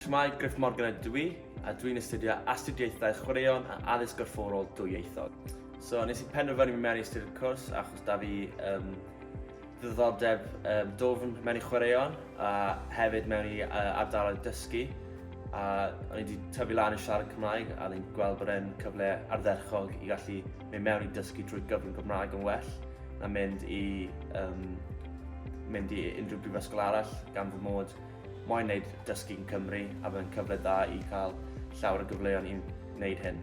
Shwmae, Griff Morgan ydw i, a dwi'n astudio Astudiaethau Chwaraeon a Addysg Gorfforol Dwyieithog. So, nes i penderfynu mynd mewn i astudi'r cwrs achos da fi um, ddiddordeb um, dofn mewn i chwaraeon a hefyd mewn i uh, ardaloedd dysgu. A o'n i wedi tyfu lan i siarad Cymraeg a ni'n gweld bod e'n cyfle ardderchog i gallu mynd mewn i dysgu drwy gyfrwng Gymraeg yn well na mynd i um, mynd i unrhyw brifysgol arall gan fy mod Mae'n wneud dysgu yn Cymru a mae'n cyfle da i cael llawer o gyfleoedd i'n wneud hyn.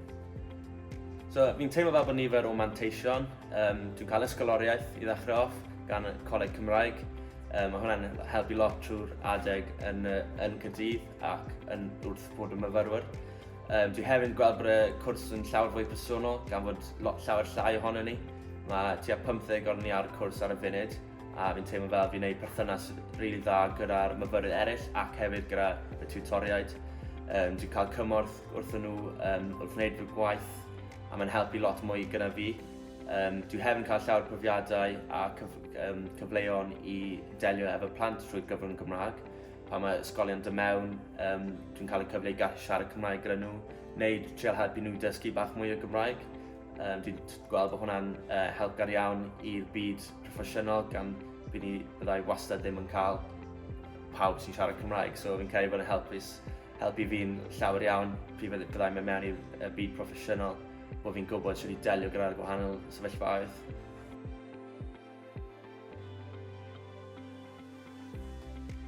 So, fi'n teimlo fel bod nifer o manteision. Um, dwi'n cael ysgoloriaeth i ddechrau off gan y Coleg Cymraeg. Um, mae hwnna'n helpu lot trwy'r adeg yn, yn Cydydd ac yn wrth bod y myfyrwyr. Um, dwi hefyd yn gweld bod y cwrs yn llawer fwy personol gan fod lot llawer llai ohono ni. Mae tua 50 o'n ni ar y cwrs ar y funud a fi'n teimlo fel fi'n neud perthynas rili dda gyda'r myfyrwyr eraill ac hefyd gyda y tiwtoriaid. Um, dwi'n cael cymorth wrth nhw um, wrth wneud fy gwaith a mae'n helpu lot mwy gyda fi. Um, dwi hefyd yn cael llawer profiadau a cyf um, cyfleon i delio efo plant trwy gyfrwng Gymraeg. Pa mae ysgolion dy mewn, um, dwi'n cael y cyfle i gallu siarad Cymraeg gyda nhw, neu treol helpu nhw dysgu bach mwy o Gymraeg. Um, dwi'n gweld bod hwnna'n uh, helpgar iawn i'r byd proffesiynol gan fi ni byddai wastad ddim yn cael pawb sy'n siarad Cymraeg. So fi'n credu bod yn helpus, helpu fi'n llawer iawn pryd fydde- byddai mewn mewn i'r y byd proffesiynol bod fi'n gwybod sy'n i delio gyda'r gwahanol sefyllfaoedd.